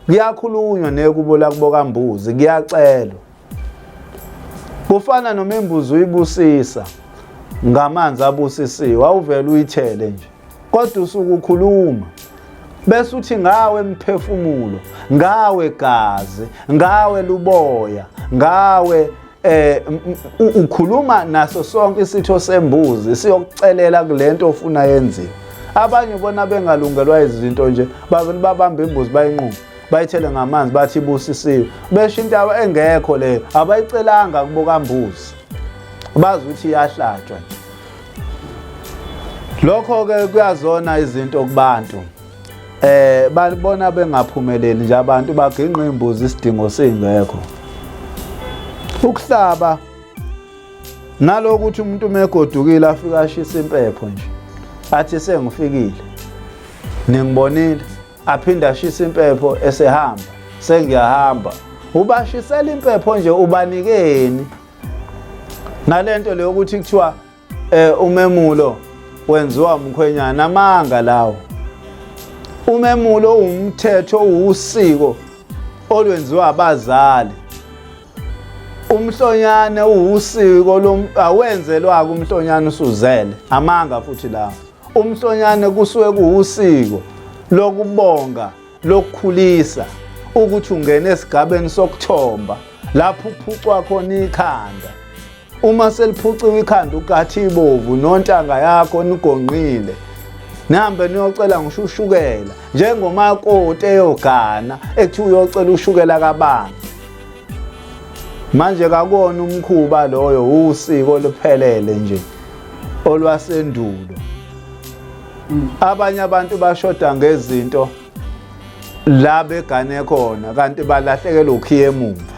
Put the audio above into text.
Kuyakhulunywa nekubo lakubo kambuzi kuyacelwa. Kufana noma imbuzi uyibusisa ngamanzi abusisiwe awuvele uyithele nje. Kodwa usuku ukhuluma bese uthi ngawe mphefumulo, ngawe gazi, ngawe luboya, ngawe eh ukhuluma naso sonke isitho sembuzi siyokucelela kulento ofuna yenziwe abanye bona bengalungelwa izinto nje bavele babambe imbuzi bayinquma bayithele ngamanzi bathi ibusisiwe besho into yabo engekho leyo abayicelanga kubokambuzi bazi ukuthi iyahlatshwa lokho-ke kuyazona izinto kubantu eh balibona bengaphumeleli nje abantu baginqa imbuzi isidingo singekho ukuhlaba naloku ukuthi umuntu umegodukile afika ashisa impepho nje athi sengifikile ningibonile aphinde ashisa impepho esehamba sengiyahamba ubashisela impepho nje ubanikeni nalento leyo ukuthi kuthiwa Eh umemulo wenziwa umkhwenyana amanga lawo. Umemulo umthetho uwusiko olwenziwa abazali. Umhlonyane uwusiko lowenzelwa kumhlonyana usuzele amanga futhi lawo. Umhlonyane kusuke kuwusiko lokubonga lokukhulisa ukuthi ungene esigabeni sokuthomba lapho uphucwa khona ikhanda uma seliphuciwe ikhanda ukathi ibovu nontanga yakho nigonqile nihambe niyocela ngisho ushukela njengomakoti eyogana ekuthiwa uyocela ushukela kabani manje kakona umkhuba loyo usiko luphelele nje olwasendulo mm. abanye abantu bashoda ngezinto la begane khona kanti balahlekelwa ukhiye emumva